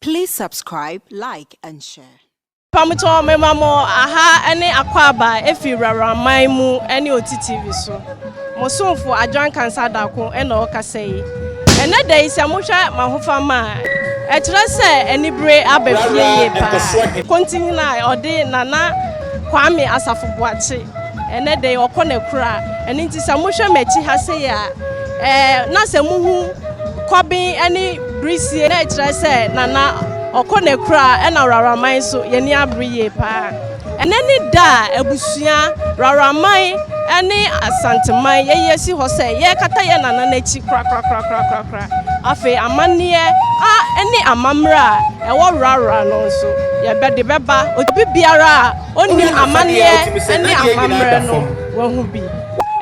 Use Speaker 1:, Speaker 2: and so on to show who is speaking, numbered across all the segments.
Speaker 1: Please subscribe, like and share. Pamukyɛ wɔn mema
Speaker 2: mo aha ne akwaaba efi wurawaman mu ne oti TV so. Mo somfo Adwan Kansa Adako na ɔkasa yi. Ɛnɛ da yi sɛ mohwɛ m'ahofama a, ɛkyerɛ sɛ anibere aba fie yie paa. Kontinhene a ɔde Nana Kwame Asafo Boakye Ɛnnɛ de, ɔkɔ no akura. Ɛno nti sɛ mohwɛ m'akyi ha sei a, ɛɛ, na sɛ muhu kɔben ne birisie na ɛkyerɛ sɛ Nana ɔkɔ no akura ɛna Rawraman nso yɛni abere yie paa. Ɛnɛ ne da a abusua, Rawraman ne Asanteman yɛyi asi hɔ sɛ yɛrekata yɛn Nana no akyi korakorakorakorakora. Afei amanneɛ a ɛne amammerɛ a ɛwɔ Rawra no nso yɛbɛde bɛba obi biara a onim amanneɛ ne amammerɛ no, wahu bi.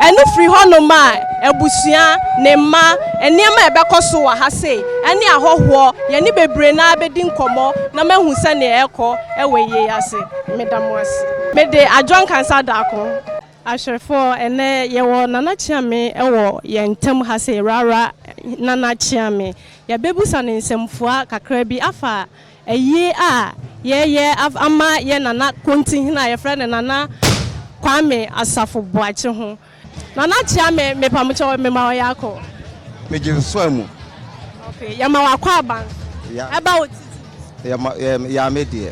Speaker 2: Ɛno firi hɔnom a, abusua, ne mma, nneɛma a ɛbɛkɔ so wɔ ha sei, ɛne ahɔhoɔ, yɛne bebree no ara bɛdi nkɔmmɔ na mahu sɛdeɛ ɛrekɔ wɔ ayie yi ase. Meda mo ase. Mede Adjoa Nkansah Daakon. Ahwɛfoɔ, ɛnnɛ yɛwɔ Nana Kyeame wɔ yɛn ntam ha sei, Rara Nana Kyeame. Yɛbɛbusa no nsɛmfua kakra bi afa. Ayi a yɛyɛ ama yɛn Nana Kontinhene a yɛfrɛ no Nana Kwame Asafo Boakye ho. Nana kyea me mepamokyɛ wo mema wo yɛakɔ. Megye wo
Speaker 3: soa mu. Okay
Speaker 2: yɛma wo akwaban so ɛba wo titi. Yɛma yɛm yaa me deɛ.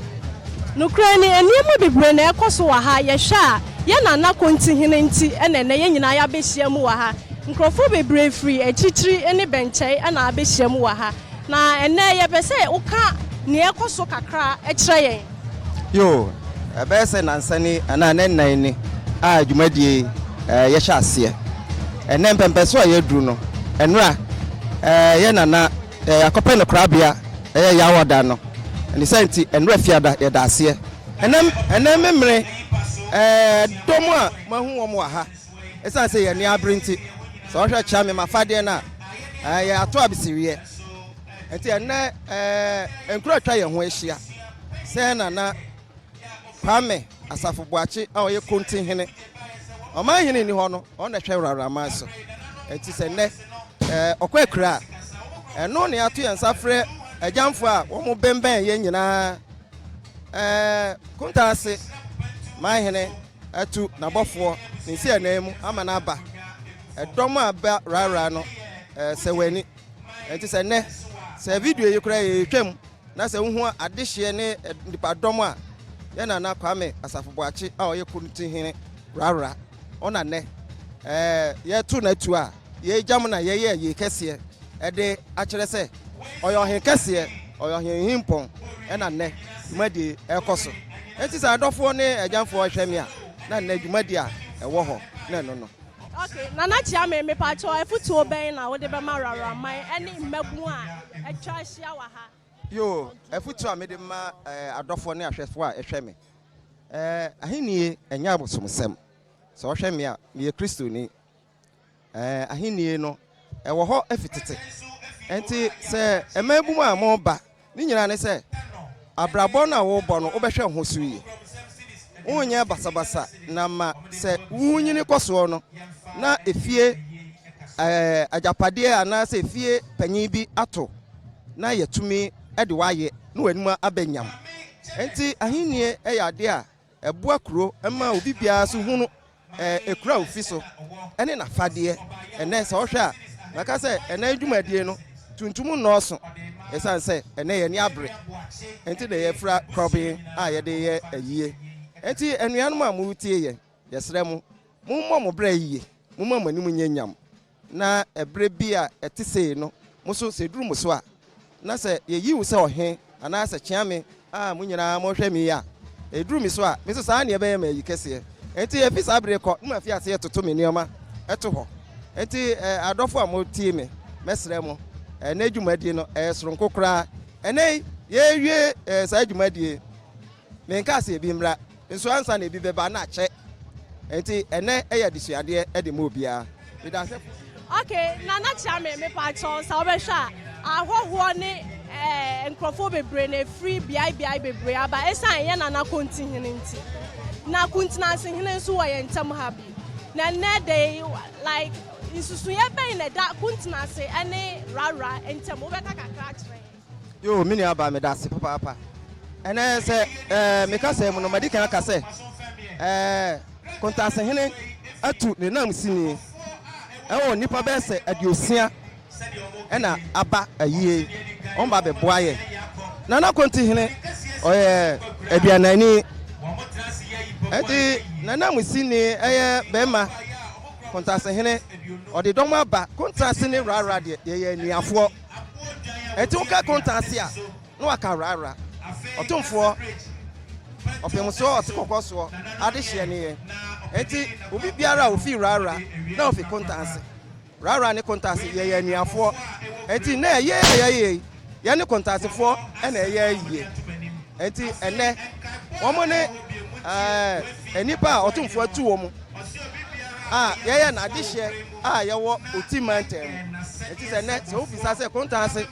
Speaker 3: Nokorɛ ni
Speaker 2: nneɛma bebree na ɛkɔ so wɔ ha yɛhwɛ a yɛn Nana Kontinhene nti na ɛnɛ yɛn nyinaa yɛabɛhyia mu wɔ ha. Nkorɔfoɔ bebree firi akyirikyiri ne bɛnkyɛe na abɛhyia mu wɔ ha. Na ɛnnɛ, yɛpɛ sɛ woka nea ɛrekɔ so kakra kyerɛ yɛn. Yoo,
Speaker 3: ɛbɛyɛ sɛ nnansa ni anaa nnɛ nnan ni a dwumadie yi yɛhyɛ aseɛ. Ɛnnɛ mpɛmpɛso a yɛaduru no, nnora yɛ na na yɛakɔpɛ no korabea, ɛyɛ yɛ awɔda no. Ne saa nti, nnora Fiada yɛda aseɛ. Ɛnnɛ memerɛ dɔm a moahu wɔn wɔ ha. Esiane sɛ yɛn ani abere nti, sɛ wɔhwɛ kyerɛ me m'afadeɛ no a, ɛɛ, yɛn ato abeseriɛ. Enti ɛnnɛ, ɛɛ, nkuro a atwa yɛn ho ahyia, sɛn na na Kwame Asafo Boakye a ɔyɛ Konti hene, ɔman hene nni hɔ no, ɔno na ɛhwɛ Wrawraman so. Enti sɛ nnɛ, ɛɛ, ɔkɔ Akura a, ɛno na yɛato yɛn nsa afrɛ Agyamfoɔ a wɔbɛnbɛn yɛn nyinaa, ɛɛ, Kunta ase man hene. Atu n'abɔfoɔ ne nsi anan mu ama no aba, ɛdɔm a ɛba rara no sɛ wɔn ani. Ɛnti sɛ nnɛ, sɛ video yi koraa yɛretwam na sɛ wohu adehyeɛ ne nnipadɔm a yɛn Nana Kwame Asafo Boakye a ɔyɛ Kuruntihene rara ɔna nnɛ, ɛɛ yɛreto no atu a, yei gya mu na yɛyɛɛ yei kɛseɛ, ɛde akyerɛ sɛ ɔyɛ ɔhene kɛseɛ, ɔyɛ ɔhene hempɔn, ɛna nnɛ dwumadie ɛrekɔ so. Enti sɛ adɔfoɔ ne agyanfoɔ hwɛ me a, na nnɛ dwumadie a ɛwɔ hɔ na ɛno no. Ok, Nana
Speaker 2: Kyeame, mepakyɛw afutuo bɛn na wode bɛma Rarraman ɛne mmabun a atwa ahyia wɔ ha? Yoo, afutuo
Speaker 3: a mede bɛma adɔfoɔ ne ahwɛfoɔ a ɛhwɛ me, ɛɛ, Ahennie ɛnyɛ abosomsɛm. Sɛ wɔhwɛ me a, meyɛ Kristoni, Ahenni no, ɛwɔ hɔ fi tete. Enti sɛ mmaabun a moreba ne nyinaa ne sɛ, abrabɔ no a worebɔ no, wobɛhwɛ ho so yie. Wonyɛ basabasa na ma sɛ wunnyini kɔ soɔ no, na efie agyapadeɛ anaasɛ efie panyin bi ato na yɛatumi de wo ayɛ na w'anim aba nyam. Enti ahenni yɛ adeɛ a Ɛboa kuro ma obi biara nso hu no ɛkura ofi so ɛne nafadeɛ ɛnɛ sɛ ɔhwɛ a mɛka sɛ ɛnɛ dwumadie no tuntum nnɔɔso ɛsiane sɛ ɛnɛ yɛn ani abere ɛnti na yɛfira kɔben a yɛde yɛ ayie ɛnti anuanom a moretie yɛn yɛsrɛ mo Mommɔ mo bra yiye, momma mo anim nyɛ nyam, na bere bi a ɛte sei no, mo nso, sɛ eduru mo so a, na sɛ yeyi wo sɛ ɔhene, anaasɛ kyea me a mo nyinaa morehwɛ me yi a, eduru me so a, me nso saa ara na ɛbɛyɛ m'ayi kɛseɛ. Enti efi saa bere rekɔ, moafi ase retoto me nneɛma to hɔ. Enti adɔfo a motie me, mɛsrɛ mo, ɛnnɛ dwumadi no, ɛyɛ soronko koraa. Ɛnnɛ yi, yɛrewie saa dwumadi yi, menkaa sɛ ebi mmra, Nso ansa na ebi bɛba na akyɛ. Nti ɛnɛ ɛyɛ adesuadeɛ de ma obiara. Meda ase fo. Ok nana
Speaker 2: kyea me mepaakyɛw sɛ wobɛhwɛ a ahɔhoɔ ne eh, nkurɔfoɔ bebree na ɛfiri beae beae bebree aba ɛsan ɛyɛ nana konti hene nti na kuntinansi hene nso wɔ yɛn ntam ha bi na nnɛ de like nsusuiɛ bɛn na ɛda kuntinansi ɛne rara ntam wobɛka kakra akyerɛ yɛn Yoo
Speaker 3: me nua baa meda ase papaapa ɛnɛ sɛ ɛɛ me kasa mu no madi kan aka sɛ ɛɛ Kontase hene atu ne nam sini ɛwɔ nnipa bɛyɛ sɛ aduosia ɛna aba ayie wɔn ba bɛ boa yɛ Nana Konti hene ɔyɛ aduanani ɛti ne nam sini ɛyɛ bɛma Kontase hene ɔde dɔm aba Kontase ne rara deɛ yɛyɛ aniafoɔ. Ɛte wo ka konta ase a, na waka wrahwra. Ɔtomfoɔ, ɔpemsoɔ, ɔsekɔkɔsoɔ, adehyeɛ ne yɛn. Enti obi biara a ɔfiri wrahwra, na ɔfiri konta ase. Wrahwra ne konta ase, yɛyɛ anuafoɔ. Enti nnɛ ayie a yɛayɛ yi, yɛne konta asefoɔ na ɛyɛ ayie. Enti ɛnnɛ, wɔn ne ɛɛ nnipa a ɔtomfoɔ atu wɔn a yɛyɛ n'adehyeɛ. a yɛwɔ Oti mantam mu. Enti sɛ nnɛ sɛ wobisa sɛ Kontanse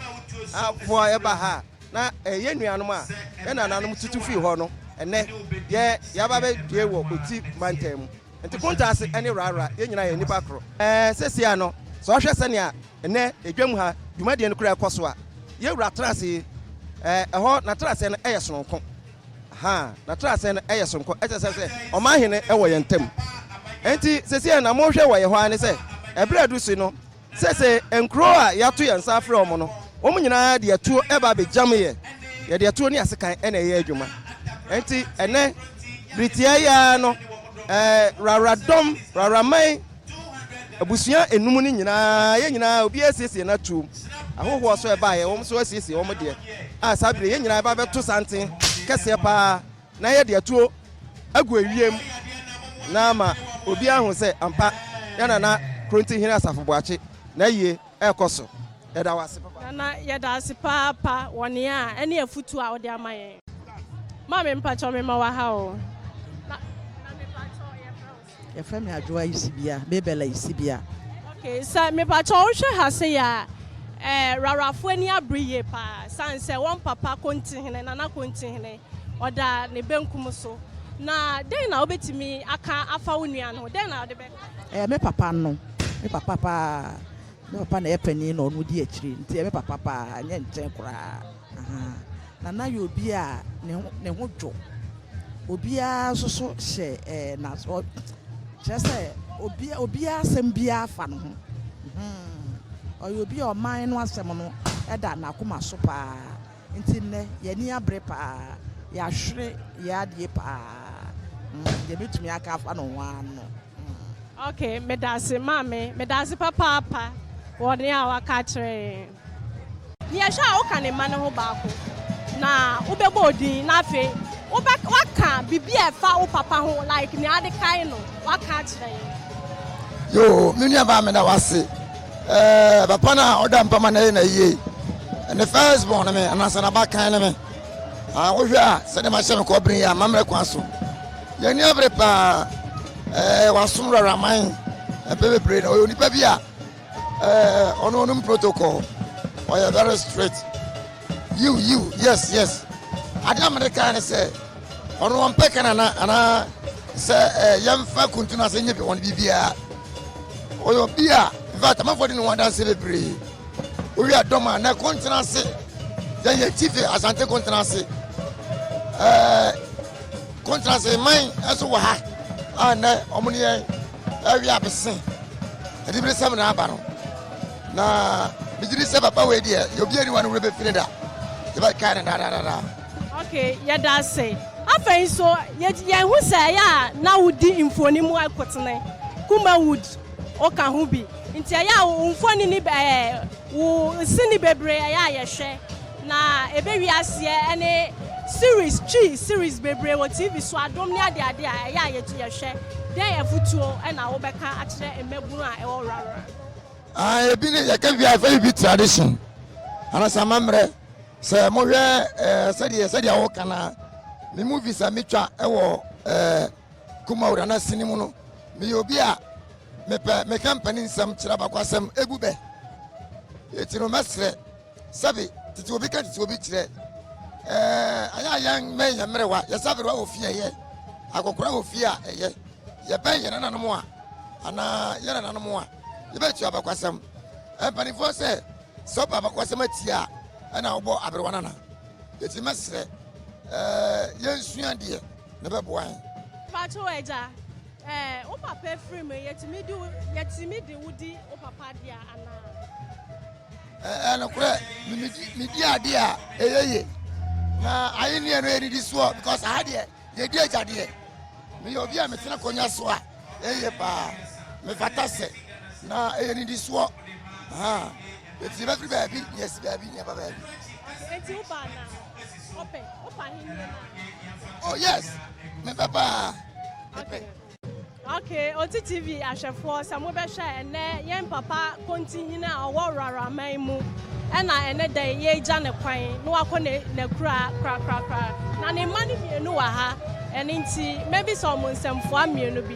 Speaker 3: foɔ ɛba ha a, na ɛyɛ nuanom a yɛn nananom tutu firi hɔ no, ɛnnɛ yɛ yɛaba abɛdue wɔ Oti mantam mu. Enti Kontanse ne Rara yɛn nyinaa yɛ nnipa koro. Seesei ara no sɛ wohwɛ sɛnea nnɛ edwam ha dwumadie no kura ɛkɔ so a, yɛn wura tena ase yi, ɛhɔ n'atenasɛɛ no yɛ sononko. Ha n'atraseɛ no yɛ soronko, kyerɛ sɛ sɛ ɔman hene wɔ yɛn ntam. Enti seesei na mohwɛ wɔ yɛn hɔ ara ne sɛ, ɛberɛ a aduru so no, seesei nkuro a yɛato yɛn nsa afrɛ wɔn no, wɔn nyinaa de atuo ba abɛgyameeɛ. Yɛde atuo ne asekan na ɛyɛ adwuma. Enti ɛnnɛ, bere tiaa yi ara no, eh, Rawradɔm, Rawraman, Abusua nnum no nyinaa, yɛn nyinaa, obiara asiesie n'atuom. Ahɔhoɔ nso a ɛbaeɛ, wɔn nso asiesie wɔn deɛ. A saa bere yɛn nyinaa yɛba bɛto santen kɛseɛ paa na yɛde atuo agu ewiem na ama obiara ahu sɛ ampa yɛn nana Krontinhene Asafo Boakye n'ayie ɛrekɔ so. Yɛda wo ase papa. Nana, yɛda ase
Speaker 2: paapa wɔ nea a ɛne afutuo a wode ama yɛn. Maame mpakyɛw mema wo aha o. Yɛfrɛ me Adwoa
Speaker 4: Isibia, Mabel Isibia. Okay, sɛ
Speaker 2: mepakyɛw wohwɛ ha se yɛ a, eh, Rawarafo ani abere yie paa, sane sɛ wɔn papa Kontihene, Nana Kontihene, ɔda ne benkum so. Na dɛn na wobetumi aka afa wo nua no ho? Dɛn na wode bɛka? Ɛyɛ me papa no,
Speaker 4: me papa paa. Me papa na ɛyɛ panin na ɔno di akyiri, nti ɛyɛ me papa paa, ɛnyɛ nkyɛn koraa. Na na yɛ obi a ne ho dwo. Obiara nso so hyɛ ɛɛ na kyerɛ sɛ obi obiara asɛm biara fa ne ho. Ɔyɛ obi a ɔman no asɛm no da n'akoma so paa. Nti nnɛ yɛn ani abere paa. Yɛahwere yɛ adeɛ paa. Deɛ mɛtumi aka afa ne ho ara no. Okay,
Speaker 2: meda ase maame. Meda ase papaapa wɔ nea waka kyerɛ yɛn. Nea ɛhwɛ a woka ne mma no ho baako, na wobɛbɔ wo din, na afei wobɛ woaka biribi a ɛfa wo papa ho like nea ade kae no woaka akyerɛ yɛn. Yoo
Speaker 5: me nua baa me da wase ɛɛ papa no a ɔda mpa ma na ɛyɛ na yie ne first born me anaasɛ na ba kan ne me a wohwɛ a sɛdeɛ ma hyɛ me kɔ bere yɛ a ma mmerɛ kwan so yɛn ni abere paa ɛɛ wasom wuraraman ɛpɛ bebree na ɔyɛ onipa bi a Eh, ɔno ɔnom protocol ɔyɛ very straight yiw yiw yes yes adeɛ a mede kaa ne sɛ ɔno ɔmpɛ ka nana anaa sɛ eh, yɛmfa kuntu no ase nyɛ bi wɔn biribiara ɔyɛ obi a infact amanfoɔ de ne ho adanse bebree wowie adɔm a na kɔntena ase yɛn yɛ tife asante kɔntena ase eh, kɔntena ase man nso wɔ ha a nɛ ɔmo ne yɛn Awie a mese adibirisɛm na aba no na megye di sɛ papa wei deɛ yɛ obi ani wa no werɛ bɛfi ne da yɛbɛkae no daadaadadaa ok
Speaker 2: yɛda ase afei nso yɛn ho sɛ ɛyɛ a na wodi mfoni mu akotene kuma wood ɔka ho bi nti ɛyɛ a wo mfoni ne wo sini bebree ɛyɛ a yɛhwɛ Na ebe wie aseɛ ɛne series twi series bebree wɔ TV so adom ne ade ade a ɛyɛ a yɛtu yɛhwɛ dɛn afutuo ɛna wo bɛka akyerɛ mmabunu a ɛwɔ rarra. Ah ebi
Speaker 5: ne yɛka wie a fɛyi bi tradition anasa amammerɛ sɛ mo hwɛ eh, sɛdeɛ sɛdeɛ wo kana me movies a me twa ɛwɔ eh, kuma wura na sini mu no me yɛ obi a me pɛ me ka mpani nsɛm kyerɛ bakwasɛm egu bɛ yɛti no mɛsrɛ Sɛbe tete obi ka tete obi kyerɛ ɛɛ ayɛ a yɛn mmɛn yɛn mmerewa yɛsaberewa wɔ fie ɛyɛ akɔkora wɔ fie a ɛyɛ yɛbɛn yɛn nananom a anaa yɛn nananom a yɛbɛtua abakwasɛm mpanimfoɔ sɛ sɛ ɔba abakwasɛm atia a ɛna wobɔ aberewa nana ɛti mɛserɛ ɛɛ yɛnsua deɛ na ɛbɛboa yɛn Pato agya
Speaker 2: ɛɛ wo papa firi mu yɛtumi di yɛtumi di wodi wo papa deɛ anaa. Ɛyɛ nokorɛ,
Speaker 5: medi adeɛ a ɛyɛ ye, na ayenneɛ no yɛ nnidisoɔ, because aha deɛ yɛdi agyadeɛ. Meyɛ obi a metena konya so a ɛyɛ paa, mefata sɛ, na ɛyɛ nnidisoɔ. Ɛfiri bɛfiri baabi na yɛasi baabi na yɛba baabi.
Speaker 2: Oh yes,
Speaker 5: mepɛ paa. Okay. Ok
Speaker 2: Oti TV ahwɛfoɔ sɛ mo bɛhwɛ a ɛnɛ yɛn papa Kontinhene a ɔwɔ Wraraman mu ɛna ɛnɛ dɛn yɛregya ne kwan na wakɔ ne nakura korakorakora na ne mma no mmienu wɔ ha ɛne nti mɛbisa ɔmo nsɛmfoa mmienu bi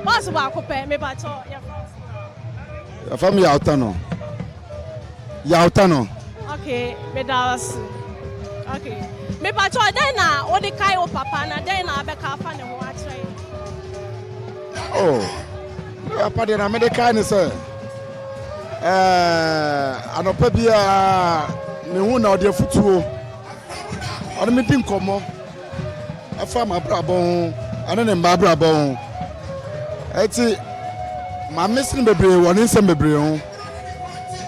Speaker 2: bɔs baako pɛ mepakyɛ yɛfa ɔsoro.
Speaker 6: Yɛfa me yɛ atano. yawta no. Okay,
Speaker 2: meda wo ase. Okay. Mepakyɛ dɛn na wode kae wo papa na dɛn na abɛka afa ne
Speaker 6: ho akyerɛ yɛn? Oh, me papa deɛ na mede kae ne sɛ eh, anɔpa biara ne ho na ɔde afutuo ɔne medi nkɔmmɔ ɛfa m'abrabɔ ho ɛne ne mma abrabɔ ho ɛti maame sene bebree wɔ ne nsɛm bebree ho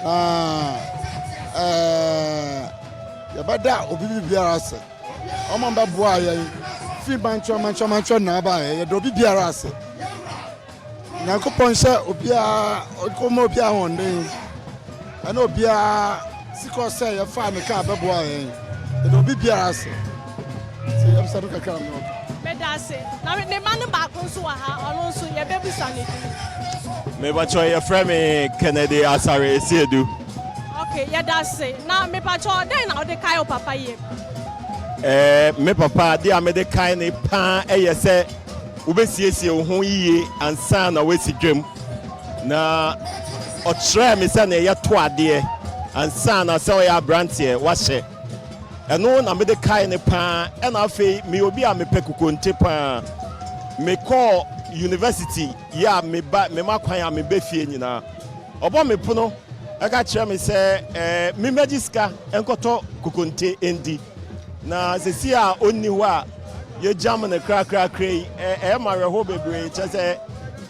Speaker 6: na ɛɛ yɛbɛda obi biara ase ɔma bɛboa yɛn firi mantwerɛ mantwerɛ mantwerɛ na aba yɛ yɛda obi biara ase nyankopɔn hyɛ obiara ɔma obiara ahoɔden ɛna obiara sikɔ sɛ yɛfa ne kaa bɛboa yɛn yɛda obi biara ase Sɛ yɛbisa no kakra no. Meda ase.
Speaker 2: Na me mma no baako nso wɔ ha, ɔno nso yɛbɛbisa ne din.
Speaker 7: Mebakyɛ yɛfrɛ me Kennedy Asare Esiedu. Ok, yɛda
Speaker 2: ase. Na mebakyɛ dɛn na wode kae wo papa yam? Eh,
Speaker 7: me papa adeɛ a mede kae ne paa ɛyɛ sɛ wobɛsiesie wo ho yiye ansa na woasi dwam. Na ɔkyerɛɛ me sɛ na ɛyɛ to adeɛ ansa na sɛ ɔyɛ aberanteɛ wahyɛ. Ɛno na mede kae no pa ara. Ɛnna afei meyɛ obi a mepɛ kokonte pa ara. Mekɔɔ yunivasiti, yɛ a meba, mema kwan a meba fie nyinaa. Ɔbɔ me pono ka kyerɛ me sɛ mimmegye sika nkɔtɔ kokonte ndi. Na seesei a onni hɔ a yɛagyam no krakrakra yi, ɛyɛ me awerɛhow bebree, kyerɛ sɛ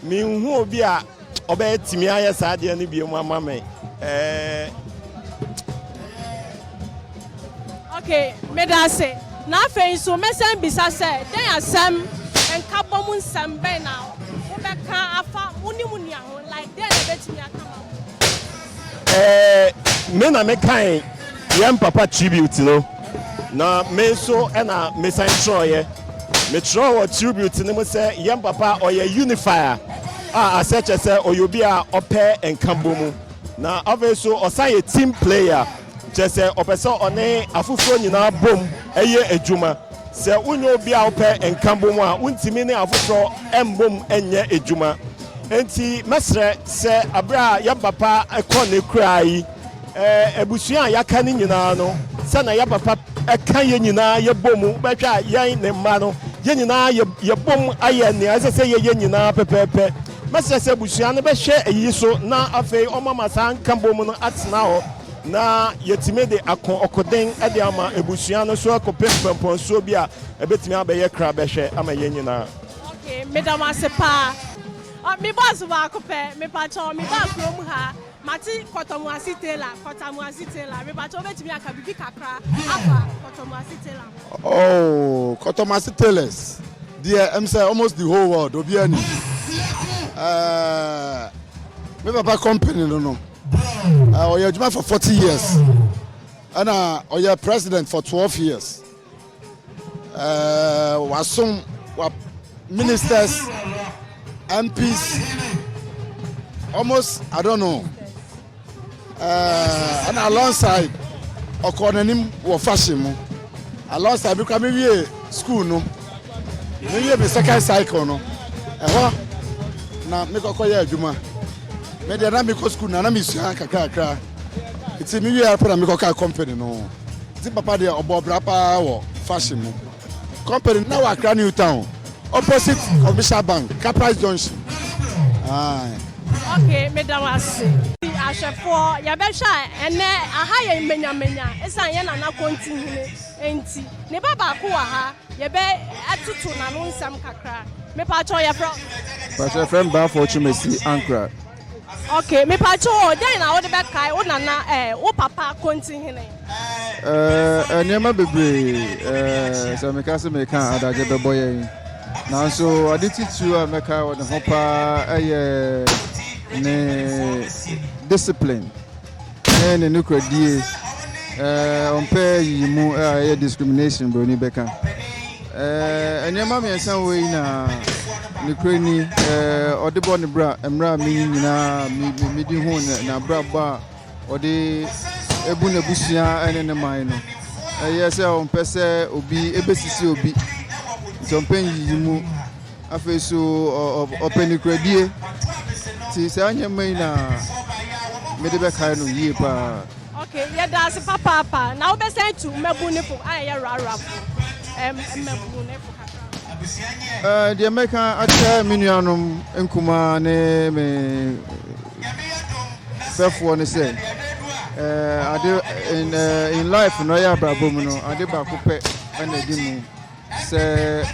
Speaker 7: minhu obi a Ɔbɛɛ tumi ayɛ saa adeɛ no biom ama me ɛɛ.
Speaker 2: Ok meda ase na afei nso mɛsɛn bisa sɛ dɛn asɛm nkabɔ mu nsɛm bɛn na wobɛka afa wo ne mu nua ho like dɛn na ɛbɛtumi aka ma wo. Eh,
Speaker 7: me na me kan yɛn papa tribute no na me nso ɛna me san twerɛeɛ me twerɛ wɔ tribute no mu sɛ yɛn papa ɔyɛ unifier a asɛ kyɛ sɛ ɔyɛ obi a ɔpɛ nkabɔ mu na afei so ɔsan yɛ team player kyɛ sɛ ɔpɛ sɛ ɔne afoforɔ nyinaa bom ɛyɛ adwuma Sɛ wonyɛ obi a wopɛ nkabom a, wuntumi ne afoforɔ mmom nyɛ adwuma. Enti mɛsrɛ sɛ berɛ a yɛn papa kɔ n'akuraa yi, abusua a yɛaka no nyinaa no, sɛ na yɛn papa ka yɛn nyinaa yɛbɔ mu, wobɛhwɛ a yɛn ne mma no, yɛn nyinaa yɛbom ayɛ nea ɛsɛ sɛ yɛyɛ nyinaa pɛpɛɛpɛ. Mɛsrɛ sɛ abusua no bɛhwɛ eyi so na afei wɔama saa nkabom no atena hɔ. na yɛatumi de ako ɔkoden de ama abusua no so akɔpɛ mpɔmpɔnsuo bi a ɛbɛtumi abɛyɛ kra bɛhwɛ ama yɛn nyinaa. Okay, meda mo
Speaker 2: ase paa. Ah, me boss baako pɛ, mepakyɛ me ba kurom ha, mate Kɔtɔmuase Taylor, Kɔtamuase Taylor, mepakyɛ wobɛtumi aka biribi kakra afa Kɔtɔmuase Taylor ho. Oh,
Speaker 6: Kɔtɔmuase Taylors deɛ ɛm sɛ almost the whole world obiara ni. Uh, me papa company no no. ɔyɛ adwuma for forty years ɛna ɔyɛ president for twelve years wasom wa ministers mps almost i don't know ɛna alongside ɔkɔ n'anim wɔ fashion mu alongside bi kura mi wie school no. Meyɛ me second cycle no, ɛhɔ na mekɔkɔ yɛ adwuma. Me deɛ na mekɔ sukuu na na mesua kakrakra. Nti me wie apɛ na mekɔ ka company no. Nti papa deɛ ɔbɔ bra paa wɔ fashion mu. Company na wɔ Accra New Town, opposite Commercial Bank, Caprice Junction. Aye. Okay,
Speaker 2: me da wase. Ahwɛfoɔ, yɛbɛhwɛ a ɛnɛ aha yɛ manyamanya, ɛsan yɛ nana kɔnti hene. Enti, ne ba baako wɔ ha, yɛbɛtoto n'ano nsɛm kakra. Mepakyɛw, yɛfrɛ wo sɛn? Mepakyɛw, yɛfrɛ me
Speaker 8: Baffour Twumasi Ankrah. Ok,
Speaker 2: mepakyɛw o, dɛn na wode bɛkae wo nana ɛɛ, wo papa Kontihene?
Speaker 8: Ɛɛ, nneɛma bebree. Ɛɛ, sɛ meka sɛ mereka a, adagye bɛbɔ yɛn. Nanso, ade titiriw a mɛkae wɔ ne ho paa yɛ ne discipline. ne ne nokoradie, ɛɛ ɔmpɛ yiyimu a ɛyɛ discrimination buroni bɛka. Ɛɛ nneɛma mmiɛnsa wɔ yi na nokorɛ ni ɛɛ ɔde bɔ ne bra mmerɛ a meyi nyinaa medi ho n'abrabɔ a ɔde ebu n'abusua ne ne man no. Ɛyɛ sɛ ɔmpɛ sɛ obi ebesisi obi, nti ɔmpɛ yiyimu. Afei so ɔpɛ nokorɛdie nti saa nneɛma yi na mede bɛkae no yie paa. ok yɛda
Speaker 2: ase papaapa na wobɛsan tu mmabunifo a ɛyɛ rarawfo
Speaker 8: mmabunifo kakra deɛ mɛka akyerɛ me nuanom nkumaa ne me fɛfoɔ no sɛ ade in life no ɛyɛ abrabɔ mu no ade baako pɛ ɛna ɛdi mu sɛ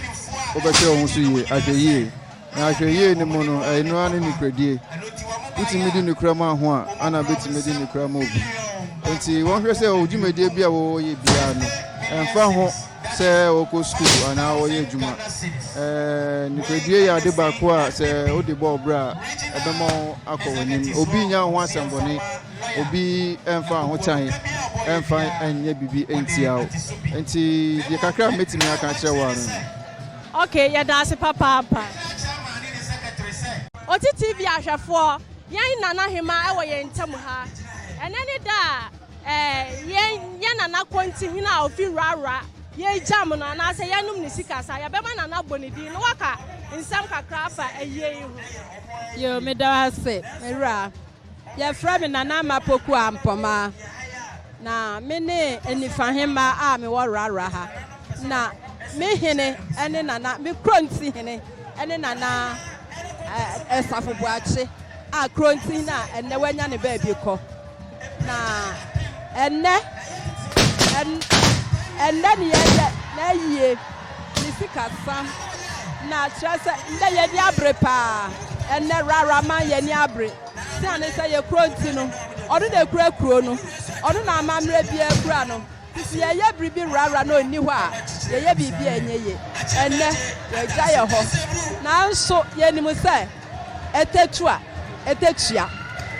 Speaker 8: wobɛhwɛ wo ho so yie ahwɛyie na ahwɛyie no mu no ɛno ara ne nokoradie wotumi di nokora mu aho a ana bɛtumi di nokora mu obu nti wɔhwɛ sɛ wo dwumadie bi a wɔyɛ biara no ɛmfa ho sɛ wɔkɔ sukuu anaa wɔyɛ adwuma nokoradie yɛ ade baako a sɛ wode bɔɔ berɛ a ɛbɛma akɔ w'anim obi nya ho asɛmbɔne Obi mfa ahotan mfa nyɛ biribi ntia wo. Nti deɛ kakra a mɛtumi aka akyerɛ wo ano no. Ok, yɛda
Speaker 2: ase papaapa. Oti TV ahwɛfoɔ, yɛn Nanahemaa wɔ yɛn ntam ha. Ɛnɛ ne da a eh, yɛn, yɛn Nana Kontihene a ɔfi Rarra, yɛregyam no anaasɛ yɛnom ne sikasa. Yɛbɛma Nana abɔ ne din na waka nsɛm kakra afa ayie yi ho. Yoo, meda
Speaker 9: wo ase, me wura. Yɛfrɛ me Nana Ama Poku Ampɔmaa, na me ne Anifahemma a mewɔ Rara ha. Na me hene ne Nana, me Kronti hene ne Nana Asafo Boakye a Kronti hene a ɛnnɛ wanya ne baabi kɔ. Na ɛnnɛ, ɛnnɛ ne yɛyɛ n'ayie. Ne sikasã na kyerɛ sɛ ndɛ yɛnni aber paa. Ndɛ rara ma yɛnni aber. Osiandɛ sɛ yɛ kurow ntsi no, ɔno na ekura kurow no, ɔno na amamberɛ biara kura no. Ntsi sɛ yɛyɛ biribi rara na onni hɔ a, yɛyɛ biribi a enye ye. Ndɛ, yɛagya yɛ hɔ. Naaso yenim sɛ ɛtatu a ɛtatua.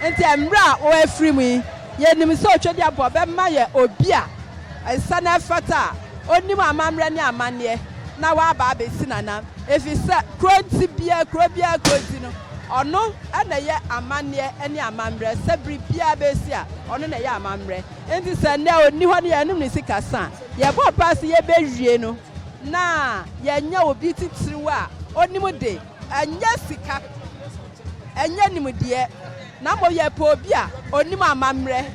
Speaker 9: Enti mmerɛ a ɔafiri mu yi, yɛnim sɛ Otwadi Aboa bɛma yɛ obi a ɛsɛ na ɛfata a ɔnim amammerɛ ne amanneɛ na waba abɛsi n'anan. Ɛfiri sɛ kuronti biara, kuro biara kuronti no, ɔno na ɛyɛ amanneɛ ne amammerɛ. Sɛ biribiara bɛsi a, ɔno na ɛyɛ amammerɛ. Enti sɛ nnɛ ɔnni hɔ na yɛanom ne sikasa a, yɛbɔ mpaeɛ sɛ yɛbɛwie no na yɛanya obi titiriw a ɔnim de. Ɛnyɛ sika, ɛnyɛ nimdeɛ, na mmom yɛpɛ obi a onim amammerɛ,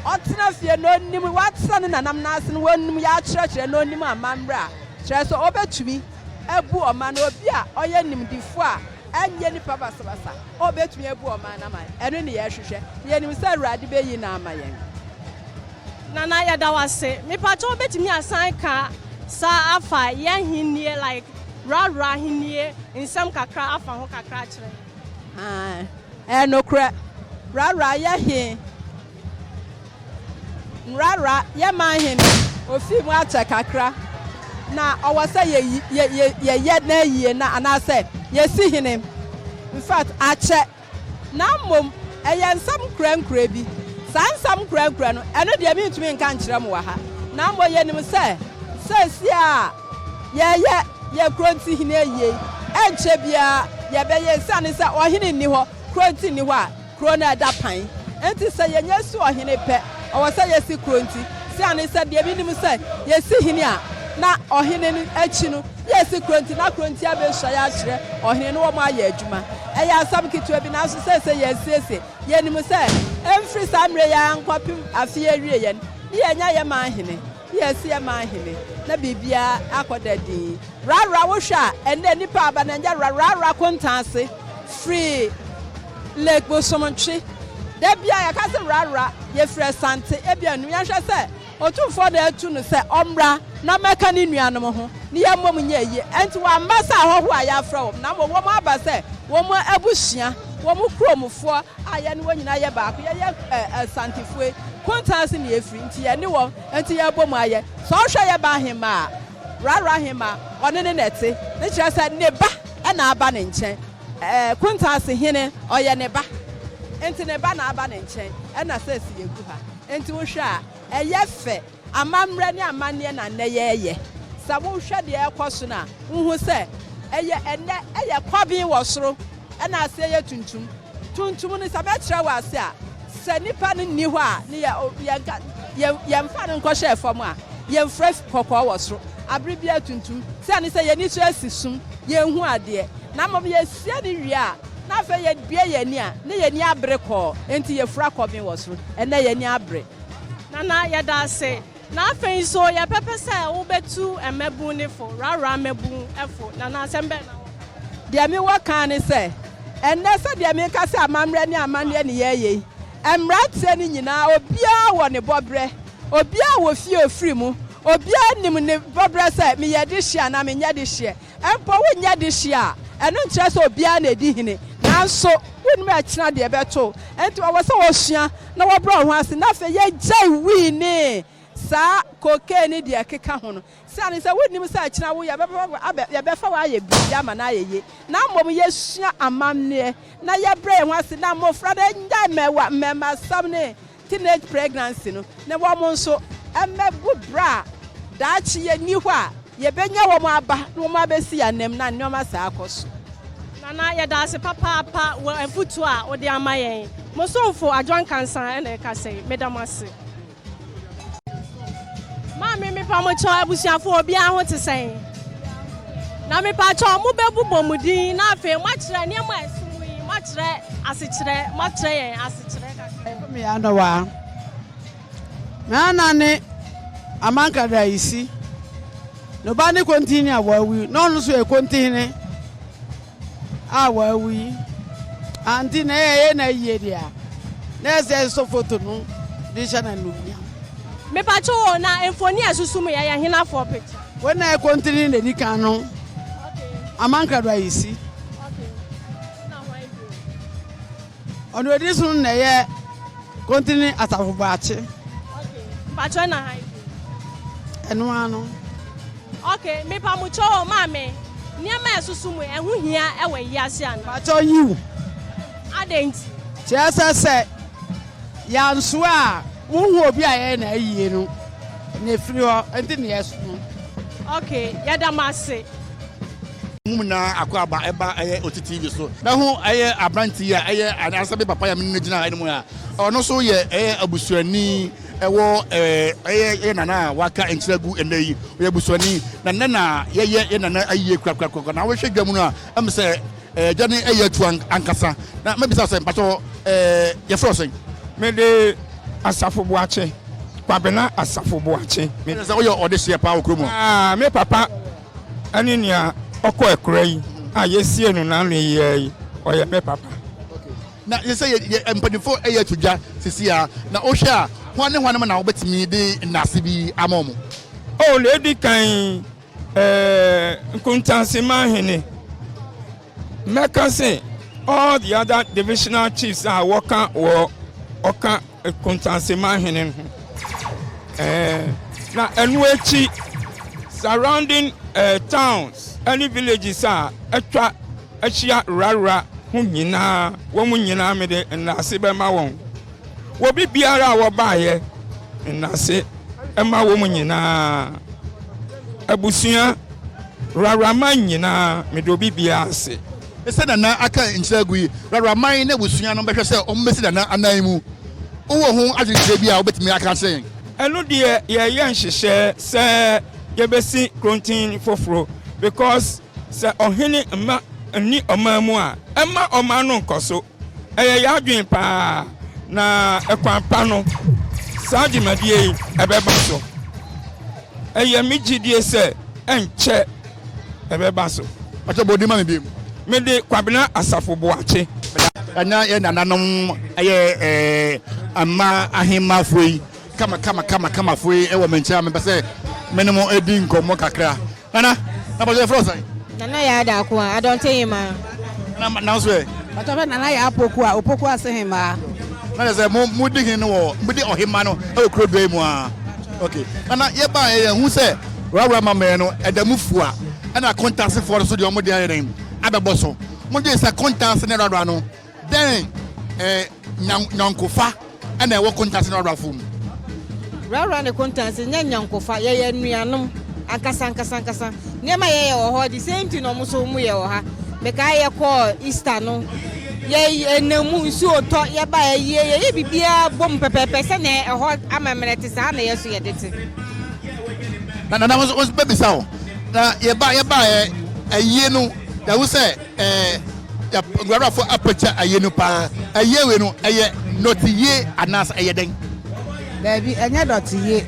Speaker 9: ɔtena fie na onim, watena ne nananom ase na onim, yɛakyerɛkyerɛ na onim amammerɛ a, kyerɛ sɛ obetumi abu ɔman no, obi a ɔyɛ nimdefo a ɛnyɛ nnipa basabasa a obetumi abu ɔman no ama. Ɛno ne yɛhwehwɛ, na yenim sɛ Awurade beyi no ama yɛn.
Speaker 2: Nana yɛda wo ase. Mepakyɛ wo bɛtumi asan ka saa afa yɛ ahennie like wurawura ahennie nsɛm kakra afa ho kakra akyerɛ yɛn. Ae ɛyɛ nokorɛ
Speaker 9: wurawura yɛ he wurawura yɛ man he no ofii mu akyɛ kakra na ɔwɔ sɛ yɛ yɛ yɛ yɛyɛ n'ayie na anaasɛ yɛsi hene infact akyɛ. Na mmom ɛyɛ nsɛm nkurankuran bi. Saa nsɛm nkurankuran no, ɛno deɛ merentumi nka nkyerɛ mo wɔ ha. Na mmom yɛnim sɛ, seesei a yɛreyɛ yɛn kuro nti hene ayie yi, ɛrenkyɛ biara yɛbɛyɛ, ɛsiane sɛ ɔhene nni hɔ, kuro nti nni hɔ a, kuro no ada pan. Enti sɛ yɛnya si ɔhene pɛ, ɛwɔ sɛ yɛsi kuro nti, ɛsiane sɛ deɛ menim sɛ, yɛsi hene a, na ɔhene no akyi no, Yɛ si Kronti na Kronti abesua yɛ akyerɛ ɔhene ne wɔn ayɛ adwuma. Ɛyɛ asɛm ketewa bi, nanso seesei yɛasiesie. Yenim sɛ, ɛmfiri saa mmerɛ yi ara nkɔpem afe yi awie yɛn ne yɛanya yɛ man hene, ne yɛasi yɛ man hene, na biribiara akɔ da dinn. Rara, wohwɛ a, ɛnnɛ nnipa aba na ɛnyɛ rara rara kontan ase firi Lake Bosomtwe. Da biara yɛka sɛ rara, yɛfiri Asante, ebia nnum, yɛnhwɛ sɛ. Otumfoɔ na atu no sɛ ɔmmra na mmɛka ne nuanom ho, na yɛmmom nyɛ ayie. Enti wɔamma sɛ ahɔhoɔ a yɛafrɛ wɔn, na mmom wɔaba sɛ wɔn abusua, wɔn kuromfoɔ a yɛne wɔn nyinaa yɛ baako. Yɛyɛ Asantefoɔ yi, Kuntaa ase na yɛfiri, enti yɛne wɔn, enti yɛabom ayɛ. Sɛ ɔhwɛ yɛ ba ahemmaa a, Raro ahemmaa, ɔne no na ɛte, ne kyerɛ sɛ ne ba na aba ne nkyɛn. Kuntaa ase hene, ɔyɛ ne ba, enti ne ba na aba ne nkyɛn, ɛna sɛsi yɛgu ha. Enti wohwɛ a, ɛyɛ fɛ? Amammerɛ ne amanneɛ na nnɛ yɛreyɛ. Sɛ wohwɛ deɛ ɛrekɔ so no a, wohu sɛ ɛyɛ ɛnnɛ yɛ kɔben wɔ soro na aseɛ yɛ tuntum. Tuntum no, sɛ mɛkyerɛ wo ase a, sɛ nipa no nni hɔ a, ne yɛ, yɛnka, yɛmfa no nkɔhyɛ fam a, yɛmfrɛ. kɔkɔɔ wɔ soro, bere biara tuntum, sɛ ɛne sɛ yɛn ani so asi sum, yenhu adeɛ, na mmom yɛsua no wie a, na afei yɛbue yɛn ani a, na yɛn ani abere kɔɔ, enti yɛfura kɔben wɔ soro. Ɛnnɛ yɛn ani abere. Nana,
Speaker 2: yɛda ase. Na afei nso, yɛbɛpɛ sɛ wobɛtu mmabun no fo, rawra mmabun fo. Nana, asɛm bɛn na wowɔ ka? Deɛ mewɔ
Speaker 9: ka ara ne sɛ, ɛnnɛ sɛdeɛ meka sɛ amammerɛ ne amanneɛ ne yɛreyɛ yi, mmeranteɛ no nyinaa, obiara wɔ ne bɔberɛ. Obiara wɔ fie a ɔfiri mu. Obiara nim ne bɔberɛ sɛ, meyɛ dehyeɛ anaa menyɛ dehyeɛ. Mpo wonyɛ dehyeɛ a, ɛno nkyerɛ sɛ obiara na ɛdi hene. Nanso, wonnim ɛkyena deɛ ɛbɛto wo. Enti wɔwɔ sɛ wɔsua na wɔbrɛ wɔn ho ase. Na afei yɛgyae wii ne saa kookee ne deɛ ɛkeka ho no. Siane sɛ wonnim sɛ akyina wo yɛbɛba yɛbɛfa wo ayɛ biribi ama no ayɛ yie na mmom yɛsua amammerɛ na yɛbrɛ yɛn ho ase na mmofra no nnyae mɛwa mmɛmasam ne teenage pregnancy no na wɔn nso mmɛgu bra a daakye yɛnni hɔ a yɛbɛnya wɔn aba na wɔn abɛsi yɛn anam na nneɛma saa kɔ so. Nana, yɛda
Speaker 2: ase papaapa wɔ afotuo a wode ama yɛn. Mo somfo Adwoa Nkansah na ɛreka sɛi. Meda mo ase. Maame mepa mo kyɛw abusuafo obiara ho te sɛn? Na mepa kyɛw mo bɛbu bɔ mo din na afei mo akyerɛ nneɛma a ɛso mu yi mo akyerɛ asekyerɛ mo akyerɛ yɛn asekyerɛ kakra. Me ano wa.
Speaker 10: Me ana ne amanka da isi. No ba ne konti ni a wawi. No no so e konti hene. a ɔawu yi anntse na yɛyɛ no ayie dze a, na ɛsɛ sɛ yɛsɔ foto no dze hyɛ no anuonyam. Mepatsew
Speaker 2: o, na mfoni a esusu mu yɛ yɛ hena fo picture? Wei na ɛkontene
Speaker 10: na edi kan no Amankra do ayisi.
Speaker 2: Ɔno edi so no
Speaker 10: na ɛyɛ Kontini Asafo Boakye. Okay. Mpatsɔ
Speaker 2: ɛna ha yi. Ɛno
Speaker 10: ara no. Okay,
Speaker 2: me pa mo kyɛw o maame. Nneɛma a ɛsoso mu ɛho hia ɛwɔ wiase ana? Mpatsɔ yiw.
Speaker 10: Adɛn
Speaker 2: nti? Kyerɛ sɛ
Speaker 10: sɛ yansoa a wohu obi a yɛyɛ na ayie no na efiri hɔ nti na yɛso no. Okay,
Speaker 2: yɛda mo ase. Mo
Speaker 6: nyinaa akwaaba ɛba ɛyɛ oti TV so. Mɛ ho ɛyɛ abranti yi a ɛyɛ anaasɛ me papa yɛ me nne gyina ɛnum a ɔno so yɛ ɛyɛ abusuani ɛwɔ ɛɛ ɛyɛ yɛ nana a waka nkyerɛ gu ɛnɛ yi ɔyɛ abusuani na nɛ na yɛyɛ yɛ nana ayie kura kura kura na wɔhwɛ dwa mu no a ɛmu sɛ Eh, gya ne ɛyɛ atu ankasa. Na mɛbisa sɛ, mpakyɛ hɔ, eh, yɛfrɛ wo sɛn? Mede
Speaker 11: Asafo Boakye, Kwabena Asafo Boakye. Me. Sɛ woyɛ ɔdehyeɛ
Speaker 6: paa wɔ kurom hɔ? Ah, me papa
Speaker 11: ɛne nea ɔkɔ akura yi a yɛsie no n'ano yi ara yi, ɔyɛ me papa. Okay. Na yɛ
Speaker 6: sɛ yɛ, yɛ mpanimfoɔ ɛyɛ atu gya sisi a, na wohwɛ a, hwan ne hwan na wobɛtumi de nnaase bi ama wɔn? Oh, na ɛdi
Speaker 11: kan Eh, Nkuntanseman Hene. Mɛka se all the other divisional chiefs a wɔka wɔ ɔka Nkuntanseman Hene ho. Eh, na ɛno akyi surrounding eh, towns ɛne villages a atwa ahyia rarra ho nyinaa wɔn nyinaa mede nnaase bɛma wɔn. wɔ biribiara a wɔbaeɛ nnase ma wɔn nyinaa. Abusua, Rawraman nyinaa, mede obi biara ase. Sɛ Nana
Speaker 6: aka nkyerɛ agu yi, Rawraman ne abusua no bɛhwɛ sɛ wɔbɛsi Nana anan mu. Wowɔ ho adwenkyerɛ bi a wobɛtumi aka akyerɛ yɛn? Ɛno deɛ
Speaker 11: yɛreyɛ nhyehyɛɛ sɛ yɛbɛsi Krontin foforo because sɛ ɔhene mma nni ɔman mu a, ɛmma ɔman no nkɔso. Ɛyɛ yɛn adwene paa, na ɛkwan pa no, saa dwumadie yi ɛbɛba so. Ɛyɛ me gyidie sɛ ɛnkyɛ
Speaker 6: ɛbɛba so.
Speaker 11: Pakyɛ bɔ din
Speaker 6: ma me
Speaker 11: bio.
Speaker 6: Mede
Speaker 11: Kwabena
Speaker 6: Asafo
Speaker 11: Boakye. Ɛna
Speaker 6: yɛ nananom ɛyɛ ɛɛ mma ahemmafoɔ yi kama kama kama kamafoɔ yi ɛwɔ me nkyɛn a mepɛ sɛ me ne mo ɛdi nkɔmmɔ kakra. Nana, na pɔtɔ yɛ fura ɔsan. Nana yɛ ada ako
Speaker 12: a, adɔnte hemaa. Nana ma nanso
Speaker 6: ɛ. Pɔtɔ bɛ nana yɛ apoku
Speaker 10: a, opoku ase hemaa. Na yɛ sɛ mo
Speaker 6: mo di hin no wɔ mo di ɔhemaa no ɛwɔ kuro dua yi mu aa. Ok, nana yɛ baa yɛ yɛ hu sɛ wura ma mɛ no ɛda mu fua ɛna kontaase foɔ no so deɛ ɔmo deɛ ayɛ dɛn abɛbɔ so. Mo dwen sɛ kontaase ne wura no. Dɛn eh, nyɔnkofa ɛna ɛwɔ kontase ne ɔwrafo mu? Wrawra
Speaker 12: ne kontase nyɛ nyɔnkofa, yɛyɛ anuanom ankasa ankasa ankasa. Nneɛma yɛyɛ wɔ hɔ de, sɛ nti na wɔn nso wɔn yɛ wɔ ha. Mekae yɛkɔɔ Easter no, yɛ ɛnam mu nsuo tɔ, yɛba yɛyɛ yɛyɛ biribiara bom pɛpɛɛpɛ sɛnea ɛhɔ amammerɛ te saa na yɛ so yɛde te.
Speaker 6: Na na na wɔn bɛbisa o, na yɛba yɛba yɛ ayie no, yɛahu sɛ. Ɛɛ yɛ nguaruafo apɛkyɛ ayie no paa. Ayie wei no, ɛyɛ nɔteyie anaasɛ ɛyɛ dɛn? Daabi,
Speaker 10: ɛnyɛ dɔteyie.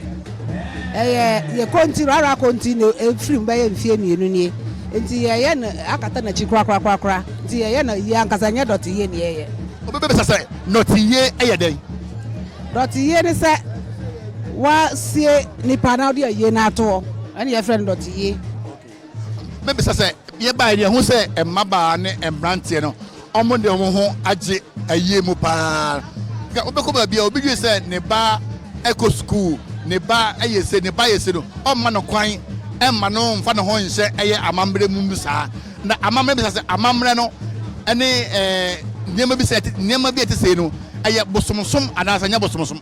Speaker 10: Ɛyɛ yɛ konti, rara konti na ɛfiri mu bɛyɛ mfeɛ mmienu nie. Nti yɛyɛ no akata n'akyi korakorakorakora. Nti yɛyɛ no ayie ankasa, ɛnyɛ dɔteyie na yɛyɛ. Obi bɛbisa sɛ,
Speaker 6: nɔteyie yɛ dɛn? Dɔteyie
Speaker 10: ne sɛ woasie nipa na wode ayie no ato hɔ, ɛne yɛfrɛ no dɔteyie.
Speaker 6: Mebisa sɛ, yɛbaeɛ no yɛhu sɛ mmabaa ne mmeranteɛ no wɔn de wɔn ho agye ayie mu paa nka wobɛkɔ baabi a obi dwen sɛ ne ba ɛkɔ sukuu ne ba ɛyɛ se ne ba yɛ se no ɔmma no kwan ɛmma no mfa ne ho nhyɛ ɛyɛ amammerɛ mu mu saa na amammerɛ bisa sɛ amammerɛ no ɛne ɛɛ nneɛma bi sɛ nneɛma bi ɛte sei no ɛyɛ bosomsom anaasɛ nyɛ bosomsom.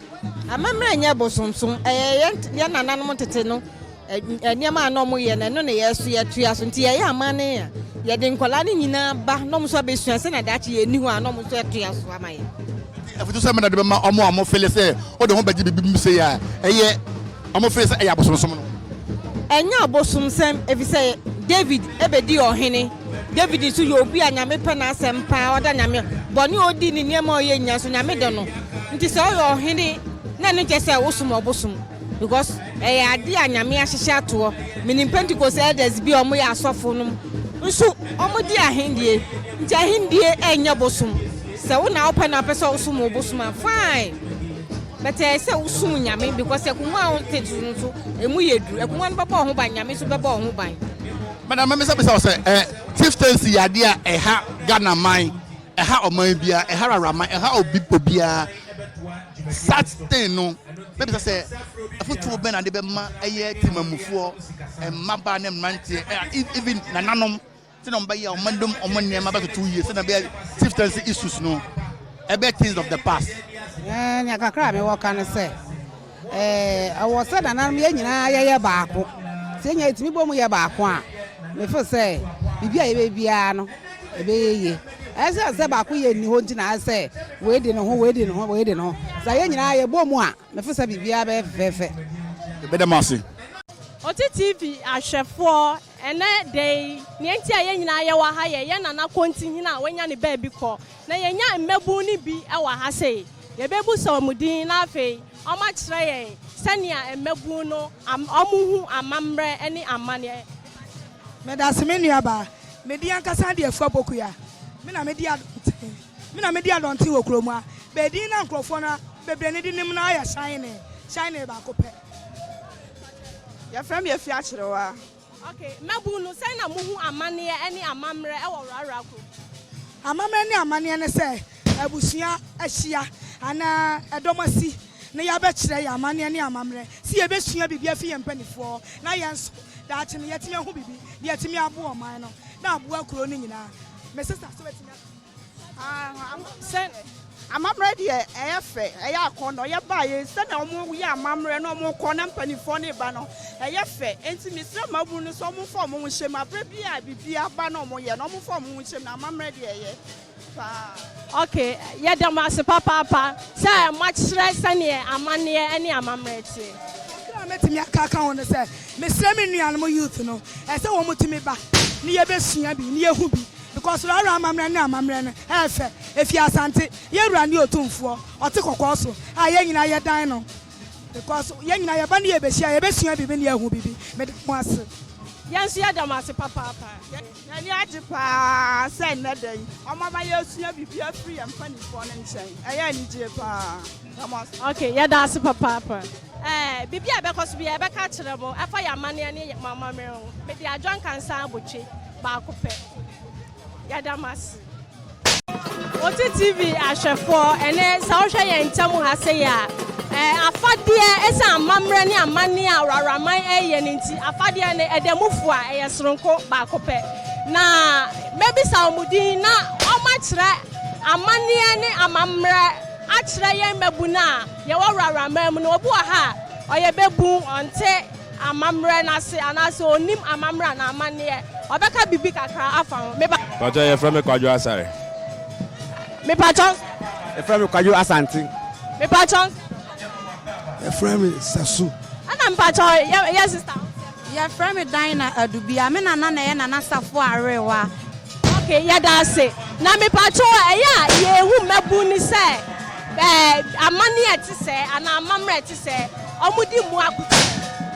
Speaker 6: Amammerɛ nyɛ
Speaker 12: bosomsom ɛyɛ yɛn nananom tete no nneɛma a na wɔyɛ no ɛno na yɛn nso yɛtoa so nti yɛyɛ amanne a yɛde nkwadaa no nyinaa ba na wɔn nso abɛsua sɛnea daakye yɛn ni hɔ a na wɔn nso atoa so ama yɛn. afutu sɛ mena
Speaker 6: de bɛma wɔn a wɔfele sɛ wɔde ho bɛgye biribi mu sɛ yɛ a ɛyɛ wɔn fele sɛ ɛyɛ abosomsom no. ɛnyɛ
Speaker 12: abosomsɛm efisɛ david ebedi ɔhene david nso yɛ obi a nyame pɛ n'asɛm paa ɔda nyame bɔne a odi ne nneɛma a ɔyɛ nyinaa so nyame dɔ no nti sɛ ɔyɛ ɔhene na ɛno nkyɛ sɛ wosom ɔbosom Because ɛyɛ adeɛ a Nyame ahyehyɛ ato hɔ. Menim Pentecost elders bi a wɔyɛ asɔfo nom nso wɔdi ahendie. Nti ahendie ɛnyɛ bosom. Sɛ wo na wopɛ na wopɛ sɛ wosom wo bosom a fine. But ɛyɛ sɛ wosom Nyame because akungua a wote so no nso ɛmu yɛ duru. Akungua no bɛbɔ wo ho ban, Nyame nso bɛbɔ wo ho ban. Madam mɛbisabisa
Speaker 6: wo sɛ eh, chieftaincy yɛ adeɛ a ɛha Ghana man, ɛha ɔman biara, ɛha Raraman, ɛha obi obiara. Saturday no, bɛbisa sɛ afotuo bɛn na de bɛma ɛyɛ temamufoɔ, mmabaa ne mmeranteɛ, ɛna e, even nananom sɛ na ɔmbɛyɛ a ɔma dom ɔmo nneɛma bɛtoto yie sɛ na bɛyɛ chieftaincy issues no ɛbɛyɛ things of the past. Ɛɛ nea kakra
Speaker 10: a mewɔ ka no sɛ ɛɛ ɛwɔ sɛ nananom yɛn nyinaa yɛyɛ baako sɛ yɛn nyinaa yɛtumi bɔ mu yɛ baako a mefo sɛ biribi a yɛbɛ biara no ɛbɛyɛ yie. Esiane sɛ baakoyɛ nni hɔ nti na ayɛ sɛ wei de ne ho, wei de ne ho, wei de ne ho. Sɛ yɛn nyinaa yɛbɔ mu a, mefo sɛ biribiara bɛyɛ fɛfɛɛfɛ. Yɛbɛda mo
Speaker 6: ase. Ɔte
Speaker 2: TV ahwɛfoɔ, ɛnɛ da yi neɛ nti a yɛn nyinaa yɛ wɔ ha yɛ yɛn Nana Kontihene a wanya ne baabi kɔ. Na yɛnya mmabun no bi wɔ ha sei. Yɛbɛbusa wɔn din na afei wɔn akyerɛ yɛn sɛnea mmabun no am wɔn hu amammerɛ ne amaneɛ.
Speaker 13: Medase me nuabaa. Me de ankasa de Afua Pokuya, me na me de Adɔnten, me na me de Adɔnten wɔ kurom ha. Bɛ edin na nkorɔfoɔ no bebree no de nim no ara yɛ Shine, Shine baako pɛ. Yɛfrɛ me Afua Akyerewa. Ok, mmabun
Speaker 2: no, sɛn na mohu amanneɛ ne amammerɛ wɔ Rara kurom? Amammerɛ ne
Speaker 13: amanneɛ ne sɛ abusua ahyia anaa ɛdɔm asi na yɛabɛkyerɛ yɛn amanneɛ ne amammerɛ sɛ yɛbɛsua biribi afi yɛn mpanimfoɔ hɔ na yɛn nso daakye no yɛatumi ahu biribi de atumi aboa ɔman no na aboa kuro no nyinaa. Me sista nso bɛtumi aka.
Speaker 9: Sɛ amammerɛ deɛ ɛyɛ fɛ, ɛyɛ akɔnnɔ, yɛbaeɛ sɛdeɛ wɔyɛ amammerɛ na wɔkɔ na mpanimfoɔ no reba no, ɛyɛ fɛ. Enti mesrɛ mmabunu no sɛ wɔmfa wɔn ho nhyɛ mu, berɛ biara a biribi aba na wɔyɛ no, wɔmfa wɔn ho nhyɛ mu na amammerɛ deɛ ɛyɛ.
Speaker 2: Ok, yɛda mo ase papaapa sɛ moakyerɛ sɛdeɛ amanneɛ ne amammerɛ teɛ. Kakra a mɛtumi
Speaker 13: aka aka ho ne sɛ, mesrɛ me nuanom youth no, ɛsɛ sɛ wɔtumi ba ne yɛbɛsua bi, ne yɛhu bi because Rara amammerɛ ne amammerɛ no ɛyɛ fɛ, ɛfiri Asante, yɛn wura ne Otumfoɔ, ɔte kɔkɔɔ so a yɛn nyinaa yɛdan no because yɛn nyinaa yɛba ne yɛbɛhyia, yɛbɛsua biribi ne yɛahu biribi. Meda mo ase. Yɛn nso
Speaker 2: yɛda mo ase papaapa. Yɛn ani agye
Speaker 9: pa ara sɛ nnɛ da yi wɔama yɛasua biribi afiri yɛn mpanimfoɔ no nkyɛn. Ɛyɛ anigyeɛ pa ara. Da mo ase. Ok,
Speaker 2: yɛda ase papaapa. Ɛɛ, biribi a ɛbɛkɔ so biara, yɛbɛka akyerɛ mo ɛfa yɛn amanneɛ ne yɛn amammerɛ ho. Mede Adwoa Nkansah abotwe baako pɛ. Yɛda mo ase. Oti TV ahwɛfoɔ, ɛnɛ sɛ wohwɛ yɛn nkyɛn mu ha sɛ yɛ a, ɛɛ afadeɛ ɛsɛ amammerɛ ne amanneɛ a wuraman ɛreyɛ no nti, afadeɛ no ɛda mu fo a ɛyɛ soronko baako pɛ. Na mɛbisa wɔn din na wɔakyerɛ amanneɛ ne amammerɛ akyerɛ yɛn mmabun a yɛwɔ wuraman mu no. Obi wɔ ha a, ɔyɛ babun, ɔnte. Amammerɛ no ase anaasɛ ɔnim amammerɛ anaa amanneɛ. Ɔbɛka biribi kakra afa ho. Mepa. Mpakyɛw yɛfrɛ me Kwadwo
Speaker 7: Asare.
Speaker 2: Mepakyɛw nso yɛfrɛ me Kwadwo. Yɛfrɛ me Kwadwo
Speaker 14: Asante. Mepakyɛw nso yɛfrɛ me Kwadwo. Yɛfrɛ me Sasu. Ɛna mepakyɛw
Speaker 2: yɛ yɛ sister ho sɛ. Yɛfrɛ me
Speaker 15: Dinah Adubia. Me nana na ɛyɛ Nana Safoa Arewa. Ok yɛda
Speaker 2: ase. Na mepakyɛw ɛyɛ a yɛhu mmabun no sɛ ɛɛ amanneɛ ɛte sɛɛ anaa amammerɛ ɛte sɛɛ. wɔdi mmoa akutu.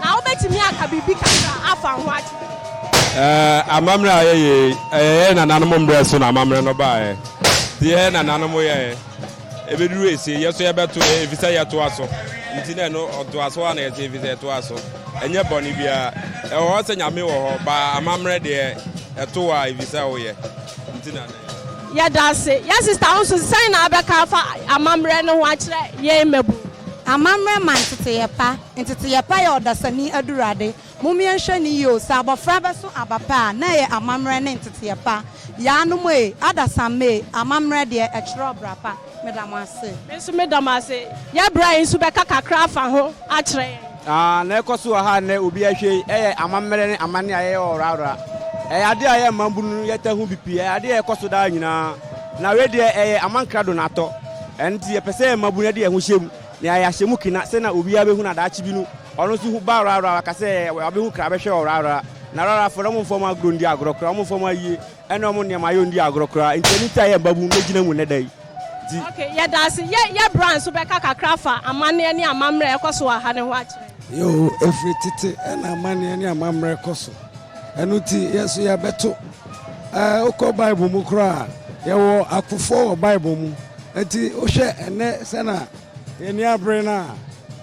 Speaker 2: Na wobɛtumi aka biribi kakra afa ho akyerɛ me? Ɛɛ, amammerɛ a yɛyɛ
Speaker 7: yi, ɛyɛ yɛn nananom mmerɛ so na amammerɛ no baeɛ. Deɛ yɛn nananom yɛeɛ, ɛbɛduru esie, yɛn nso yɛbɛto yɛ, ɛfiri sɛ yɛtoa so. Nti na ɛno ɔtoasoɔ a na yɛte, ɛfiri sɛ ɛtoa so. Ɛnyɛ bɔne biara. Ɛwɔ hɔ sɛ Nyame wɔ hɔ, baa amammerɛ deɛ, ɛto wo a, ɛfiri sɛ woyɛ. Nti na na yɛyɛ. Yɛda
Speaker 2: ase. Yɛn sista wo nso sɛn na wobɛka afa amammerɛ no ho akyerɛ yɛn mmabun? Amammerɛ ma
Speaker 15: nteteyɛ pa. Nteteyɛ pa yɛ ɔdasani adurade. Mommea nhwɛ no yie o, sɛ abɔfra bɛso aba pɛ a, na ɛyɛ amammerɛ ne nteteyɛ pa. Yaanom ee, adasamma ee, amammerɛ deɛ, ɛkyerɛ ɔbra pa. Meda mo ase. Me nso meda mo ase.
Speaker 2: Yɛ bra yi nso bɛka kakra afa ho akyerɛ yɛn. Aah na ɛkɔ so
Speaker 14: wɔ ha nnɛ obi ahwɛ yi ɛyɛ amammerɛ ne amanne a yɛyɛ wɔ Ɔwora Ɔwora. Ɛyɛ adeɛ a yɛn mmabunu no yɛtaa hu bi pii, ɛyɛ adeɛ a ɛkɔ so daa nyinaa. Na wei deɛ ɛyɛ amankrado na atɔ. Ɛno nti yɛpɛ sɛ yɛn mmabunu de yɛn ho hyɛ mu na yɛayɛ ahyɛmu kena sɛnea obiara bɛhu na daakye bi no ɔno nso hu ba Ɔwora Ɔwora waka sɛ wabɛhu kra bɛhwɛ Ɔwora Ɔwora. Na Ɔwora Ɔwora foɔ no wɔmfa wɔn agorɔ ndi agorɔ koraa, wɔmfa wɔn ayie. Ɛna ɔmo nneɛma yɛ ondi agorɔ koraa nti ɛno nti a yɛ mbabun yɛ gyina mu nnɛ da yi nti. Ok yɛda
Speaker 2: ase. Yɛ yɛ bra nso bɛka kakra afa amaneɛ ne amammerɛ a ɛkɔ so wɔ ha no ho akyerɛ yɛn. Yoo ɛfiri
Speaker 16: tete ɛna amaneɛ ne amammerɛ kɔ so ɛno nti yɛ nso yɛ bɛto ɛɛ wokɔ bible mu koraa yɛ wɔ akofoɔ wɔ bible mu nti wohwɛ ɛnɛ sɛna yɛni abere no a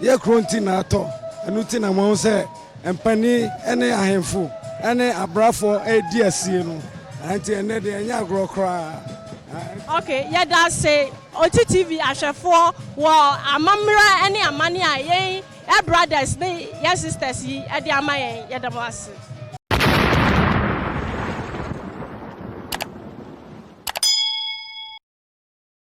Speaker 16: yɛ kuro nti na atɔ ɛno nti na mo ahu sɛ. Mpanin ne ahemfo ne abrafoɔ redi asie no, nti ɛnnɛ deɛ ɛnyɛ agorɔ koraa. Ok,
Speaker 2: yɛda ase Oti TV ahwɛfoɔ wɔ amammerɛ ne amane a yɛn yɛ brothers ne yɛn sisters yi de ama yɛn, yɛda mo ase.